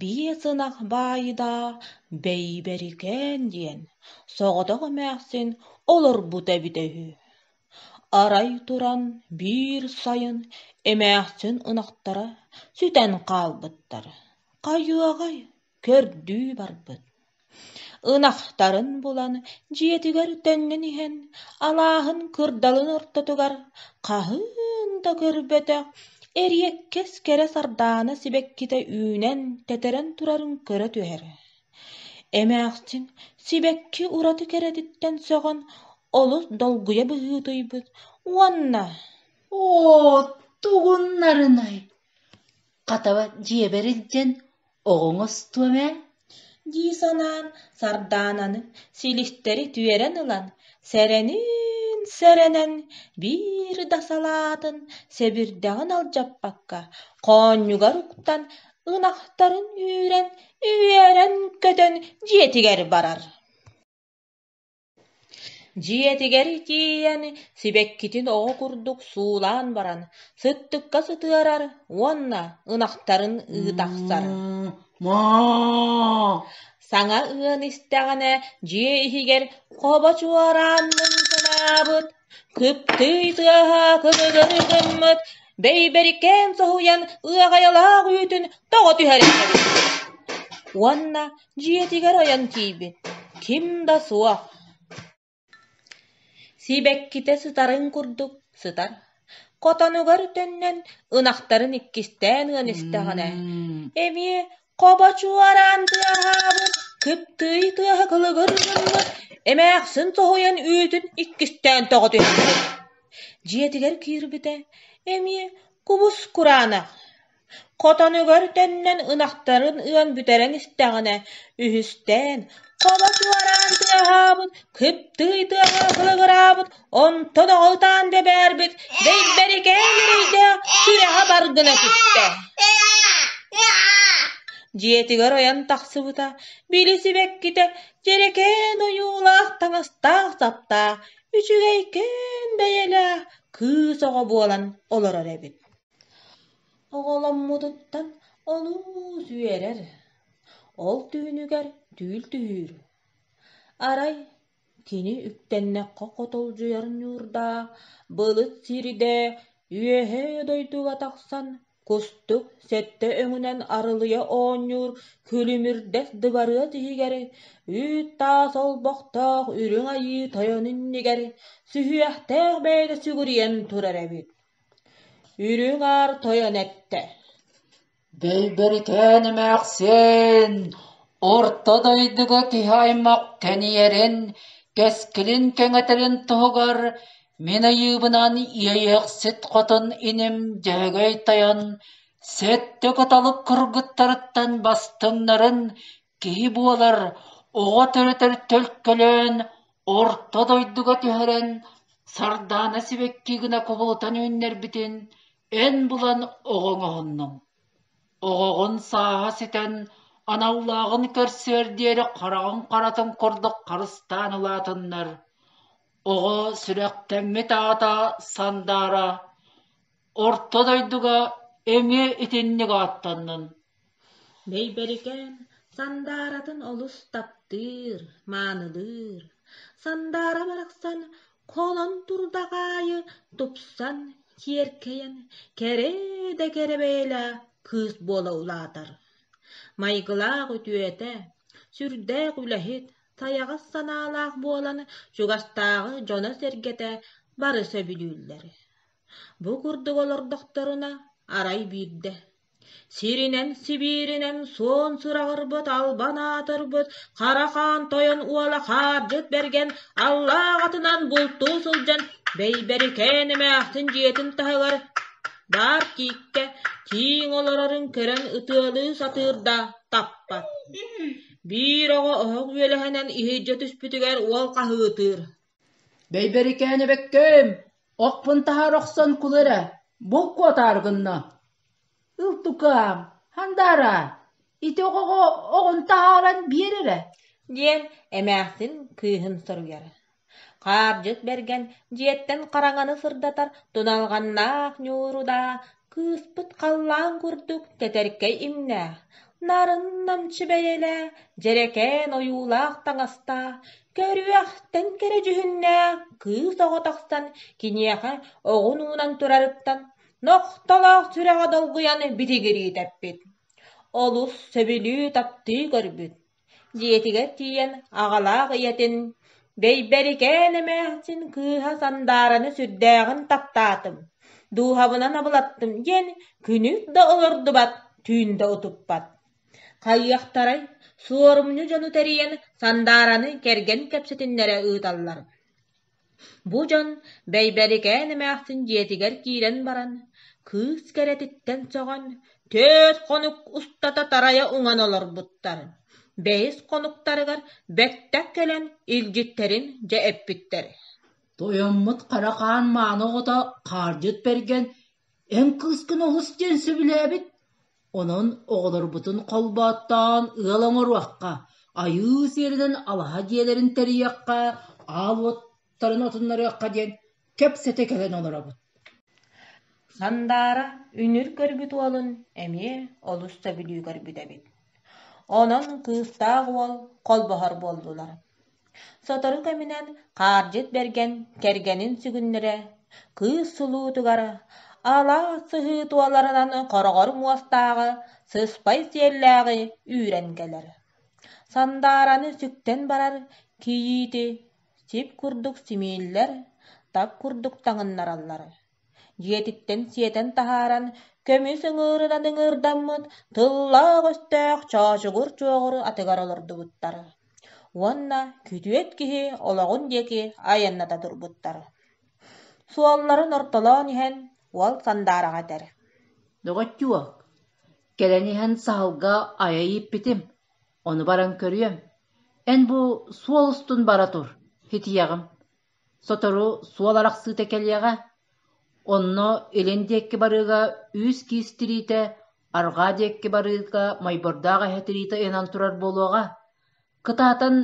Биэс ынах баайда Бэйбэрикээн диэн соҕотох эмээхсин олорбута эбитэ үһү. Арай туран биир сайын эмээхсин ынахтара сүтэн хаалбыттар, хайыаҕай, көрдүү барбыт Ынахтарын булан дьиэтигэр төннөн иһэн, алааһын кырдалын ортотугар хаһыын да көрбөтөх эриэккэс кэрэ сардаана сибэккитэ үүнэн тэтэрэн турарын көрө түһэр. Эмээхсин сибэкки ураты кэрэтиттэн сөҕөн олус долгуйа быһыытыйбыт уонна: «Оо, тугуннарынай, хатаба дьиэбэр илдьэн Оҕоҥ остуом ээ дии санаан Сардаананы силистэри түөрэн ылан сэрэнин сэрэнэн биир да салаатын сэбирдэҕин алдьаппакка хоонньугар уктан ынахтарын үүрэн үөрэн көтөн дьиэтигэр барар Дьиэтигэр тиийэн, сибэккитин оҕо курдук суулаан баран, сыттыкка сытыарар уонна ынахтарын ыы тахсар саҥа ыан истэҕинэ дьиэ иһигэр хобо чуораанныы санаабыт Кыптый тыаһа кымыганы гыммыт, бэйбэрикээн соһуйан ыаҕайалаах үүтүн тоҕо түһэрэн кэбиспит уонна дьиэтигэр ойон тиийбит, ким да суох сибэккитэ сытарын курдук сытар, хотонугар төннөн ынахтарын иккистээн ыан истэҕинэ эмиэ Хобо чуораан тыаһаабыт, кыптыый тыаһа кылыгыр гыммыт, эмээхсин соһуйан үүтүн иккистээн тоҕо түспүт дьиэтигэр киирбитэ эмиэ кубус кураанах, хотонугар төннөн ынахтарын ыан бүтэрэн истэҕинэ үһүстээн хобо чуораан тыаһаабыт, кыптыый тыаһа кылыгыраабыт Онтон оҕотоон бэбээрбит Дэйбэрикээн эрэйдээх күрэҕэ бар гына түстэ дьиэтигэр ойон тахсыбыта били сибэккитэ дьэрэкээн ойуулаах таҥастаах-саптаах үчүгэйкээн бэйэлээх кыыс оҕо буолан олорор эбит оҕоломмутуттан олус үөрэр ол түһүнүгэр түүл түһүүр арай Кини үктэннэххэ хотолдьуйар ньуурдаах былыт сиридэ үөһээ дойдуга тахсан кустук сэттэ өҥүнэн арылыйа оонньуур күлүмүрдэс дыбарыас иһигэр үүт таас олбохтоох үрүҥ айыы тойон иннигэр сүһүөхтээх бэйэтэ сүгүрүйэн турар эбит. Үрүҥ аар тойон эттэ: Бэйбэрикээн эмээхсин орто дойдуга киһи-аймах тэнийэрин, кэскилин кэҥэтэрин туһугар мин айыыбынан иэйэхсит хотун иним дьөһөгөй тойон сэттэ кыталык кыргыттарыттан бастыҥнарын киһи буолар оҕо төрөтөр төлкөлөөн орто дойдуга түһэрэн Сардаана сибэкки гына кубулутан үүннэрбитин Эн булан оҕоҥоһуннуҥ, оҕоҕун сааһа ситэн, аналлааҕын көрсүөр диэри хараҕыҥ харатын курдук харыстаан улаатыннар, оҕо сүрэхтэҥҥит аата сандаара, орто дойдуга эмиэ итинник ааттаннын Бэйбэрикээн Сандааратын олус таптыыр, маанылыыр. Сандаара барахсан холон турдах аайы тупсан, киэркэйэн кэрэ да кэрэ бэйэлээх кыыс буола улаатар. Майгылаах үтүөтэ, сүрдээх үлэһит, сайаҕас санаалаах буолан чугастааҕы дьоно-сэргэтэ бары сөбүлүүллэр. Бу курдук олордохторуна, арай биирдэ: Сиринэн Сибииринэн суон сураҕырбыт албан аатырбыт Хара Хаан Тойон уола Хаардьыт Бэргэн аллаах атынан бултуу сылдьан Бэйбэрикээн эмээхсин дьиэтин таһыгар Баар тииккэ тииҥ олорорун көрөн ытыалыы сатыыр да таппат Биир оҕо оһох үөлэһинэн иһирдьэ түспүтүгэр уол хаһыытыыр Бэйбэрикээн эбэккэм, охпун таһаар охсон кул эрэ, булку атаары гынна. Ылтукаам, хандаараа, ити оҕоҕо оҕун таһааран биэр эрэ, диэн эмээхсин кыыһын соруйар. Хаардьыт Бэргэн дьиэттэн хараҥаны сырдатар туналҕаннаах ньууру да Кыыспыт халлаан курдук тэтэркэй имнээх, нарын намчы бэйэлээх, дьэрэкээн ойуулаах таҥастаах, көрүөхтэн кэрэ дьүһүннээх кыыс оҕо тахсан киниэхэ оҕун уунан турарыттан нохтолоох сүрэҕэ долгуйан битигирии тэппит, олус сөбүлүү таптыы көрбүт дьиэтигэр тиийэн аҕалаах ийэтин «Бэйбэрикээн эмээхсин кыыһа Сандаараны сүрдээҕин таптаатым, дууһабынан абылаттым» диэн күнүк да олордубат, түүн да утуппат. Хайыахтарай, суорумньу дьону тэрийэн Сандаараны кэргэн кэпсэтиннэрэ ыыталлар Бу дьон Бэйбэрикээн эмээхсин дьиэтигэр киирэн баран, кыыс кэрэтиттэн сөҕөн, төрт хонук устата тарайа уҥан олорбуттар, бэйис хонуктарыгар бэттэх кэлэн илдьиттэрин дьэ эппиттэр Тойоммут Хара Хаан мааны оҕото хаардьыт Бэргэн эн кыыскын олус диэн сөбүлээбит Онон оҕолорбутун холбооттоон ыал оҥоруохха, айыы сиэринэн алаһа дьиэлэрин тэрийиэххэ, аал уоттарын отуннарыахха диэн кэпсэтэ кэлэн олоробут Сандаара үнүр көрбүт уолун эмиэ олус сөбүлүү көрбүт эбит. Онон кыыстаах уол холбоһор буоллулар Сотору кэминэн хаардьыт бэргэн кэргэнин сүгүннэрэ, кыыс сулуутугар алаас сыһыы туоларынан хороҕор муостааҕы, сыспай сиэллээҕи үүрэн кэлэр. Сандаараны сүктэн барар кийиити сип курдук симииллэр, тап курдук таҥыннараллар дьиэтиттэн сиэтэн таһааран көмүс ыҥыырынан ыҥыырдаммыт тыллаах-өстөөх чоочугур чуоҕур атыгар олордубуттар уонна күтүөт киһи олоҕун диэки айанната турбуттар суолларын ортолоон иһэн уол сандаараҕа этэр доҕоччуо кэлэн иһэн саһылга айа ииппитим ону баран көрүөм эн бу суол устун бара тур ситиэҕим Сотору суол арахсыыта кэлиэҕэ, онно илин диэкки барыыга үс-киис тириитэ, арҕаа диэкки барыыга Майбордоох эһэ тириитэ ыйанан турар буолуоҕа, кытаатан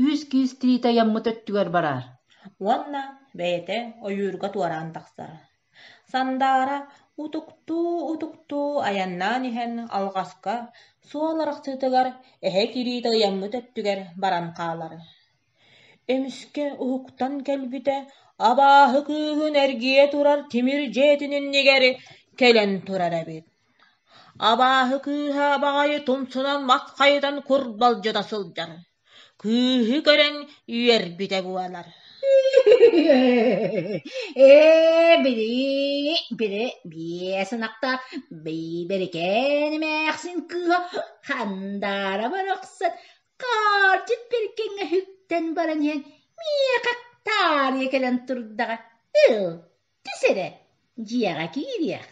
үс-киис тириитэ айаммыт өттүгэр бараар уонна бэйэтэ ойуурга туораан тахсар. Сандаара утуктуу-утуктуу айаннаан иһэн алҕаска, суол арахсыытыгар эһэ кириитэ ыйаммыт өттүгэр баран хаалар Эмискэ уһуктан кэлбитэ, абааһы кыыһын эргийэ турар тимир дьиэтин иннигэр кэлэн турар эбит абааһы кыыһа баҕайы тумсунан маххайытан курбалдьыта сылдьар кыыһы көрөн үөрбүтэ буолар ээ били били биэс ынахтаах бэйбэрикээн эмээхсин кыыһа хандаара барахсан Хаартык кэргэҥэһиттэн баран иһэн миэхэ таарыйа кэлэн турдаҕа «Ыл, түс эрэ, дьиэҕэ киириэх»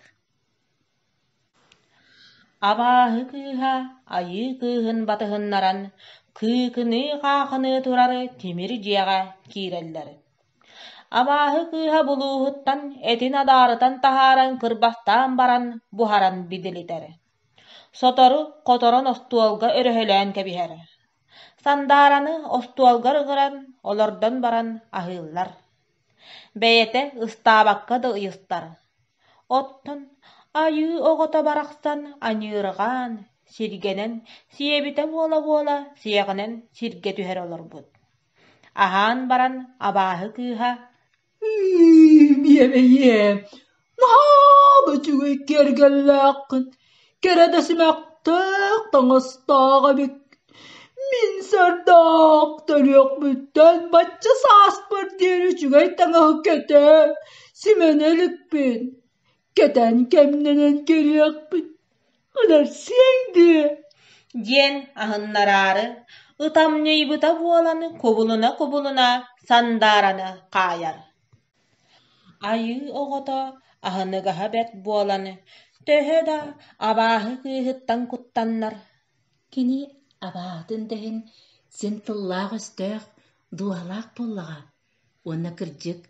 Абааһы кыыһа айыы кыыһын батыһыннаран кыыкыныы-хаахыныы турар тимир дьиэҕэ киирэллэр. Абааһы кыыһа булууһуттан этин адаарытан таһааран кырбастаан баран буһаран бидилитэр. Сотору хоторон остуолга өрөһөлөөн кэбиһэрэ, Сандаараны остуолга ыҥыран, олордон баран аһыыллар, бэйэтэ ыстаабакка да ыйыстар. Оттон айыы оҕото барахсан аньыырҕаан, сиргэнэн, сиэбитэ буола-буола сиэҕинэн сиргэ түһэрэ олорбут. Аһаан баран абааһы кыыһа: Иэмэйиэ, наһаа да үчүгэй киэргэллээххин, кэрэ да симэхтээх таҥастаах эбик. Мин сардаах төрүөхпүттэн бачча сааспар диэри үчүгэй таҥаһы кэтэ, симэнэ иликпин. кэтэн кэмнэнэн көрүөхпүн ыларсыаҥ дуо диэн аһыннараары ытам ньуйбута буолан кубулуна-кубулуна сандаараны хаайар айыы оҕото аһыныгаһа бэрт буолан төһө да абааһы кыыһыттан куттаннар кини абааһытын да иһин син тыллаах-өстөөх дууһалаах буоллаҕа Уонна, кырдьык,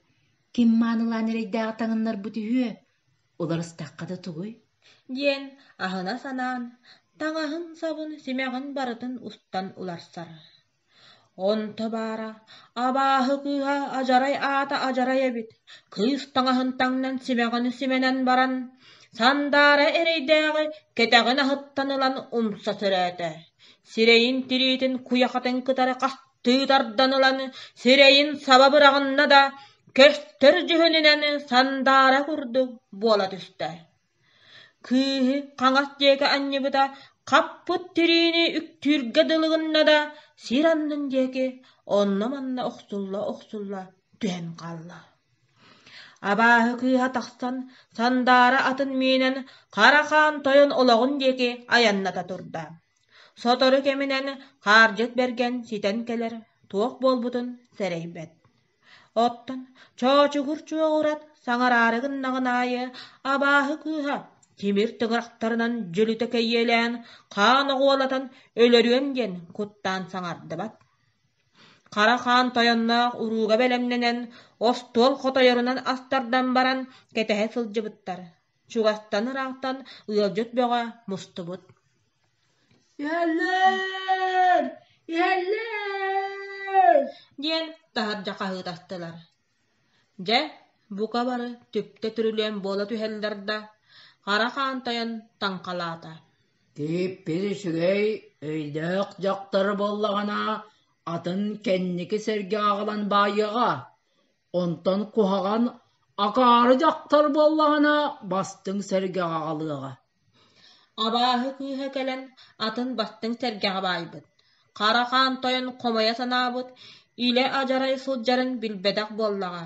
ким маанылаан эрэйдээҕи таҥыннарбыт үһүө, уларыстахха да тугуй? диэн аһына-санаан, таҥаһын-сабын, симэҕин барытын устан уларсар. Онто баара, абааһы кыыһа адьарай аата адьарай эбит, кыыс таҥаһын таҥнан симэҕини симэнэн баран, сандаара эрэйдээҕи кэтэҕин аһыттан ылан умса сөрөөтө, сирэйин тириитин куйахатын кытары хаста Тыытардан ылан сирэйин саба быраҕынна да, көстөр дьүһүнүнэн сандаара курдук буола түстэ. Кыыһы хаҥас диэки анньыбыта хаппыт тириини үктүүргэ дылы гынна да, сир аннын диэки онно-манна охсулла-охсулла түһэн хаалла. Абааһы кыыһа тахсан сандаара атын миинэн Хара Хаан Тойон олоҕун диэки айанната турда. Сотору кэминэн Хаардьыт Бэргэн ситэн кэлэр туох буолбутун сэрэйбэт. Оттон Чоочугур Чуоҕурат саҥараары гыннаҕын аайы абааһы кыыһа тимир тыгырахтарынан дьөлүтэ кэйиэлээн хаан оҕуолатан өлөрүөм диэн куттаан саҥардыбат. Хара хаан тойонноох урууга бэлэмнэнэн остуол хотойорунан астардан баран кэтэһэ сылдьыбыттар. Чугастан ыраахтан ыалдьыт бөҕө мустубут «Иһэллэр! Иһэллэр!» диэн таһырдьа хаһыытастылар. Дьэ, бука бары түптэ түрүлүөн буола түһэллэр да, хара хаан тайан таҥхалаата Тииппин үчүгэй өйдөөх дьахтар буоллаҕына, атын кэнники сэргэ аҕалан баайыаҕа. Онтон куһаҕан акаары дьахтар буоллаҕына бастыҥ сэргэҕэ аҕалыаҕа Абааһы кыыһа кэлэн атын бастыҥ сэргэҕэ баайбыт Хара Хаан Тойон хомойо санаабыт илэ-адьарай сылдьарын билбэтэх буоллаҕа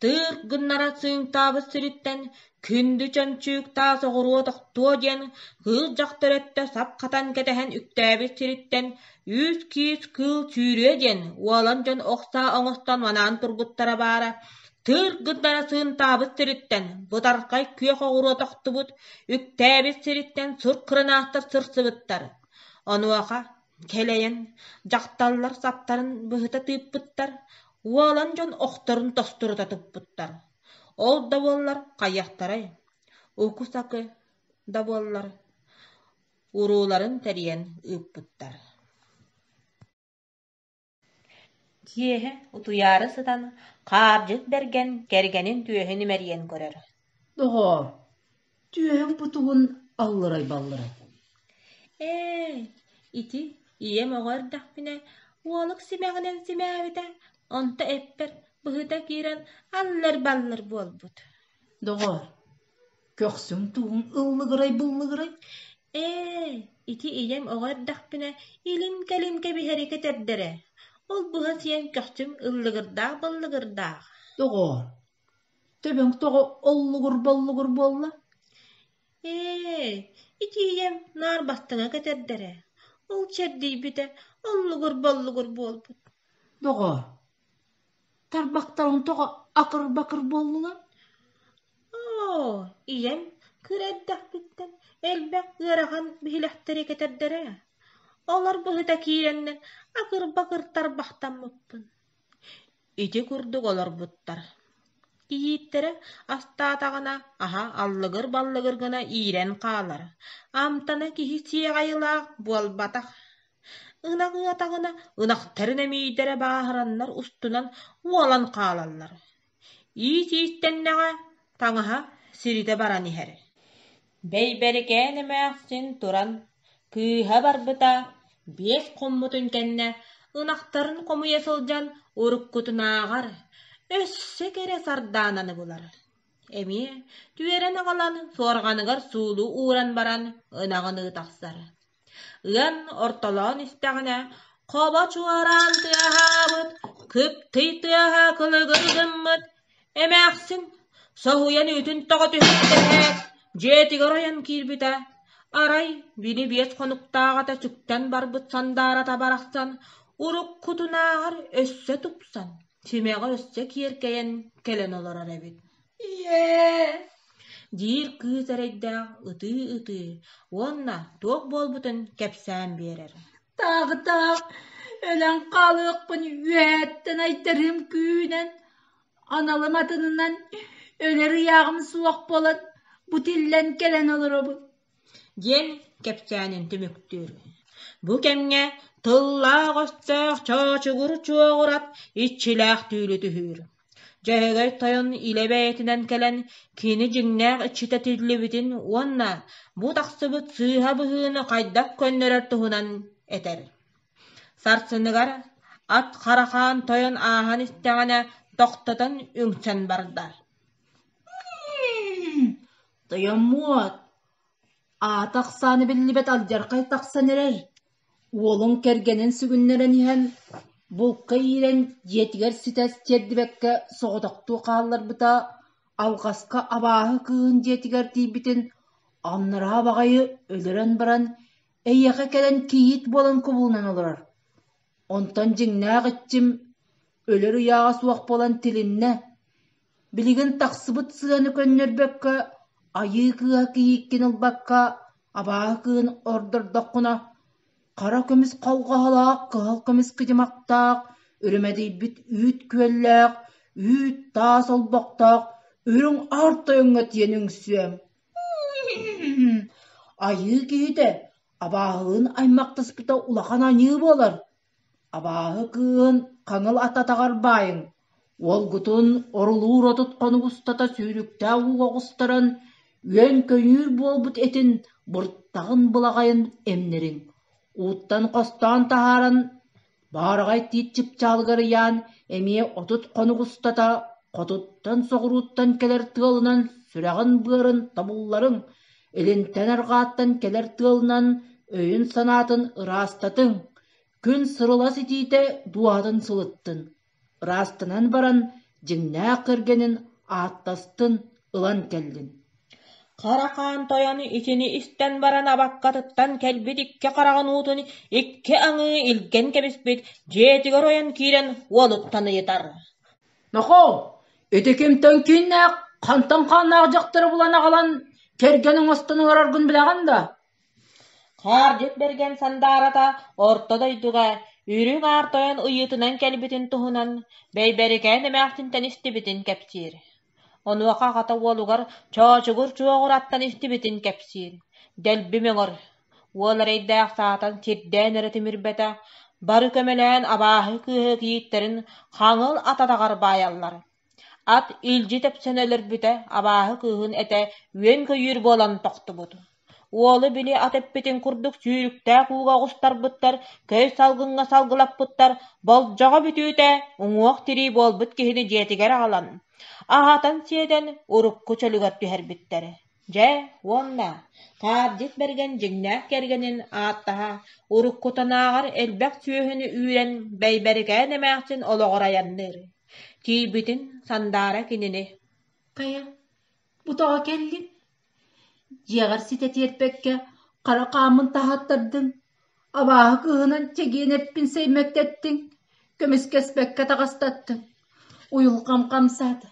Тыырк гыннара сыыҥтаабыт сириттэн Күндү чөмчүүк таас оҕуруо тохтуо диэн кыыл дьахтар өттө сап хатан кэтэһэн үктээбит сириттэн «Үүс киис кыыл сүүрүө» диэн уолан дьон охсо оҥостон манаан турбуттара баара, тыыр гыннара сыынтаабыт сириттэн бытархай күөх оҕуруо тохтубут, үктээбит сириттэн сур кыранаастар сырсыбыттар. Онуоха кэлэйэн дьахталлар саптарын быһыта тыыппыттар, уолан дьон охторун тостурута туппуттар. Ол да буоллар хайыахтарай, укусаки да буоллар урууларын тэрийэн ыыппыттар Киэһэ утуйаары сытан хаалдьыт бэргэн кэргэнин түөһүн имэрийэн көрөр: «Доҕоор Түөһүҥ путугун аллырай-баллырай «Ээ, ити ийэм оҕо эрдэхпинэ уолук симэҕинэн симээбитэ, онто эппэр быһыта киирэн аллыр-баллыр буолбут» Доҕоор, көхсүҥ-туоһуҥ ыллыгырай-буллугурай «Ээ, ити ийэм оҕо эрдэхпинэ илим-кэлим кэбиһэри кэтэрдэрэ, ол быһа сиэн көхсүм ыллыгырдаах-баллыгырдаах» Доҕоор, Төбөҥ тоҕо оллугур-боллугур буолла? Ээ, итиийэм наар баттана кэтэрдэрэ, ол чэрдийбитэ оллугур-боллугур буолбут Доҕоор, тарбахтарыҥ тоҕо акыр-бакыр буоллулар? Оо, ийэм кыра эрдэхпиттэн элбэх ыарахан биһилэхтэри кэтэрдэрэ, олор быһыта киирэннэр акыр-бакыр тарбахтаммыппын Ити курдук олорбуттар кийииттэрэ астаатаҕына аһа аллыгыр-баллыгыр гына иирэн хаалар, амтана киһи сиэҕайылаах буолбатах, ынах ыатаҕына ынахтарын эмиийдэрэ бааһыраннар устунан уолан хаалаллар, иис иистэннэҕэ таҥаһа сиритэ баран иһэр Бэйбэрикээн эмээхсин туран кыыһа барбыта биэс хоммутун кэннэ ынахтарын хомуйа сылдьан уруккутунааҕар өссө кэрэ сардаананы булар эмиэ түөрэн аҕалан суорҕаныгар суулу ууран баран ынаҕын ыы тахсар Ыан ортолоон истэҕинэ, Хоба чуораан тыаһаабыт, кып-тый тыаһа кылыгыр гыммыт, эмээхсин соһуйан үүтүн тоҕо түһэрдэһээт, дьиэтигэр ойон киирбитэ, арай били биэс хонуктааҕыта сүктэн барбыт сандаарата барахсан уруккутунааҕар өссө тупсан, симэҕи өссө киэркэйэн кэлэн олорор эбит диир кыыс эрэйдээх ытыы-ытыы уонна туох буолбутун кэпсээн биэрэр таах-таах өлөн хаалыахпын үөһэттэн айдарыым күүнэн аналым атынынан өлөр ыйааҕым суох буолан бу тиллэн кэлэн олоробун диэн кэпсээнин түмүктүүр. Бу кэмҥэ тыллаах өстөөх чоочугур чуоҕурат иччилээх түүлү түһүүр. Дьөһөгөй тойон илэ бэйэтинэн кэлэн кини дьиҥнээх иччитэ тиллибитин уонна бу тахсыбыт сыыһа быһыыны хайдах көннөрөр туһунан этэр. Сарсыныгар ат Харахаан тойон ааһан истэҕинэ тохтотон үҥсэн барда. Тойоммуот, аата ахсаана биллибэт алдьархай тахсан эрэр, уолуҥ кэргэнин сүгүннэрэн иһэн, булка иирэн дьиэтигэр ситэ тиэрдибэккэ соҕотохтуу хаалларбыта, алҕаска абааһы кыыһын дьиэтигэр тиийбитин аннараа баҕайы өлөрөн баран, эйиэхэ кэлэн кийиит буолан кубулунан олорор. Онтон дьиҥнээх иччим өлөр ыйааҕа суох буолан тилиннэ Билигин тахсыбыт сыаны көннөрбөккө, айыы кыыһа кийииккин ылбакка, абааһы кыыһын ордордоххуна, хара көмүс халҕаһалаах кыһыл көмүс кыдьымахтаах, үрүмэдийбит үүт күөллээх, үүт таас олбохтоох үрүҥ аар тойоҥҥо тиийэн үҥсүөм Айыы киһитэ абааһылыын аймахтаспыта улахан аньыы буолар Абааһы кыыһын хаҥыл ат атаҕар баайыҥ, уолгутун орулуур отут хонук устата сүүрүктээх ууга оҕустаран үөн-көйүүр буолбут этин буртаҕын былаҕайын эмнэриҥ, ууттан хостоон таһааран, баараҕай тиит чыпчаалыгар ыйаан эмиэ отут хонук устата хотуттан-соҕурууттан кэлэр тыалынан сүрэҕин-быарын тобулларыҥ, Илинтэн арҕааттан кэлэр тыалынан өйүн-санаатын ыраастатыҥ, күн сырылас итиитэ дууһатын сылыттын, ыраастанан баран дьиҥнээх кэргэнин ааттастын, ылан кэллин Харахаан Тойону итини истэн баран абаккатыттан кэлбит икки хараҕын уутун икки аҥыы илгэн кэбиспит дьиэтигэр ойон киирэн уолуттан ыйытар Нохоо, ити кимтэн кииннээх, хантан хааннаах дьахтары булан аҕалан, кэргэн оҥостон олороргун билэҕин да Хаардьыт Бэргэн Сандаарата орто дойдуга үрүҥ аар тойон ыйыытынан кэлбитин туһунан Бэйбэрикээн эмээхсинтэн истибитин кэпсиир. Онуоха аҕата уолугар Чоочугур Чуоҕураттан истибитин кэпсиир. Дэлби мөҥөр Уол эрэйдээх саатан сирдээн эрэ тимирбэтэ, бары көмөлөөн абааһы кыыһы кийииттэрин хаҥыл ататаҕар баайаллар. Ат илдьи тэпсэн өлөрбүтэ, абааһы кыыһын этэ үөн-көйүүр буолан тохтубут. Уолу били ат эппитин курдук сүүрүктээх ууга оҕустарбыттар, көй салгыҥҥа салгылаппыттар, болдьоҕо бүтүүтэ уҥуох-тирии буолбут киһини дьиэтигэр аҕалан, аһатан-сиэтэн урукку чөлүгэр түһэрбиттэр. Дьэ, уонна Таабдьыт Бэргэн дьиҥнээх кэргэнин ааттаһа уруккутанааҕар элбэх сүөһүнү үүрэн Бэйбэрикээн эмээхсин олоҕор айанныыр, тиийбитин сандаара кинини «Хайа, бу тоҕо кэллиҥ? Дьиэҕэр ситэ тиэрпэккэ хара хааммын таһааттардын Абааһы кыыһынан чэгиэнэппин сэймэктэттиҥ, көмүскэспэккэ таҕыстаттыҥ, уйулҕам хамсаата,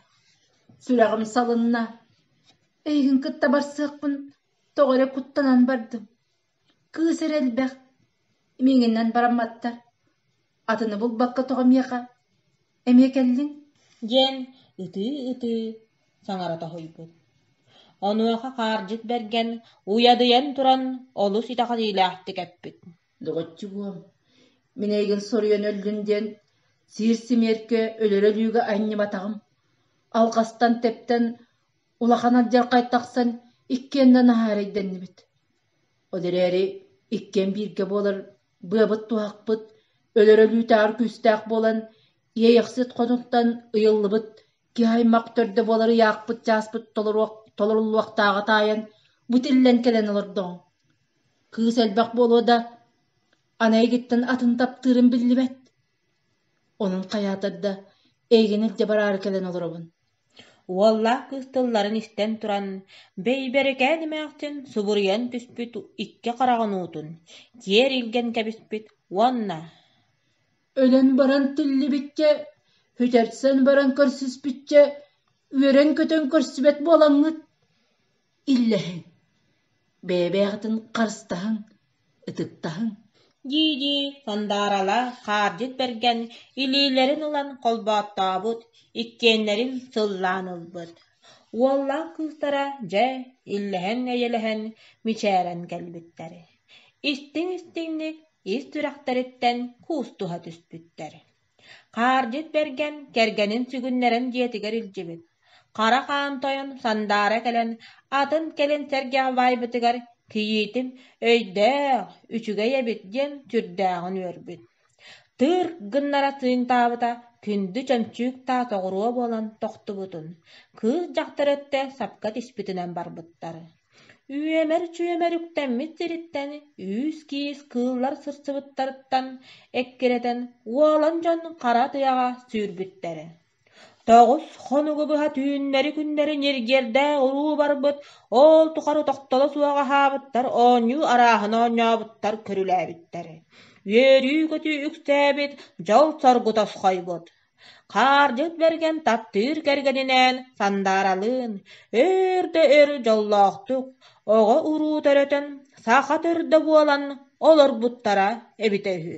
сүрэҕим салынна, эйигин кытта барсыахпын тоҕо эрэ куттанан бардым, кыыс эрэ элбэх, миигиннэн барамматтар Атыны булбакка тоҕо миэхэ эмиэ кэллиҥ диэн ытыы-ытыы саҥара тоһуйбут. Онуоха хаардьыт Бэргэн уйадыйан туран олус итэҕэтиилээхтик эппит: «Доҕоччу буол, мин эйигин соруйан өллүн диэн сиир симиэркэ өлөрө-өлүүгэ анньыбатаҕым. Алҕастан тэптэн, улахан алдьархай тахсан иккиэн да наһаарайдэннибит. Ол эрээри иккиэн бииргэ буолар быабыт-туһахпыт өлөрөлүүтээҕэр күүстээх буолан, иэйэхсит хотуттан ыйыллыбыт киһи аймах төрдө буолар ыйаахпыт чааспыт толоруллуохтааҕа таайан, бу тиллэн кэлэн олордоҕуҥ кыыс элбэх буолуо да, аны эйигиттэн атын таптыырым биллибэт онон хайаатар да эйигин илдьэ бараары кэлэн олоробун Уоллаах кыыс тылларын истэн туран, бэйбэрикээн эмээхсин субуруйан түспүт икки хараҕын уутун киэр илгэн кэбиспит уонна: «Өлөн баран тиллибиккэ, бүтэрсэн баран көрсүспүччэ, үөрэн-көтөн көрсүбэт буолаҥҥыт» иллэһиҥ, бэйэ-бэйэҕитин харыстаһыҥ, ытыктаһыҥ дии-дии Сандаралаах хаардьыт бэргэн илиилэрин ылан холбооттообут, иккиэннэрин сыллаан ылбыт. Уоллаах кыыстара, дьэ, иллэһэн-эйэлэһэн мичээрэн кэлбиттэр. Истиҥ-истиҥник ис сүрэхтэриттэн куустуһа түспүттэр Хаардьыт Бэргэн кэргэнин сүгүннэрэн дьиэтигэр илдьибит, хара хаан тойон сандаара кэлэн атын кэлин сэргэх баайбытыгар кийиитим «Өйдөөх, үчүгэй эбит» диэн сүрдээҕин үөрбүт. Тыырк гыннара сыыҥтаабыта күндү чөмчүүк-таас оҕуруо буолан тохтубутун, кыыс дьахтар өттө сапка тиспитинэн барбыттар Үөмэр-чүөмэр үктэммит сириттэн үүс-киис кыыллар сырсыбыттарыттан эккирэтэн уолан дьон хара тыаҕа сүүрбүттэрэ. Тоҕус хонугу быһа түүннэри-күннэри ньиргиэрдээх уруу барбыт ол тухары тохтоло суох аһаабыттар оонньуу арааһын оонньообуттар көрүлээбиттэрэ. Үөрүү-көтүү үксээбит дьол-соргу тосхойбут Хаардьыт Бэргэн таптыыр кэргэнинээн Сандааралыын өөр да өр дьоллоохтук оҕо-уруу төрөтөн саха төрдө буолан олорбуттара эбитэ үһү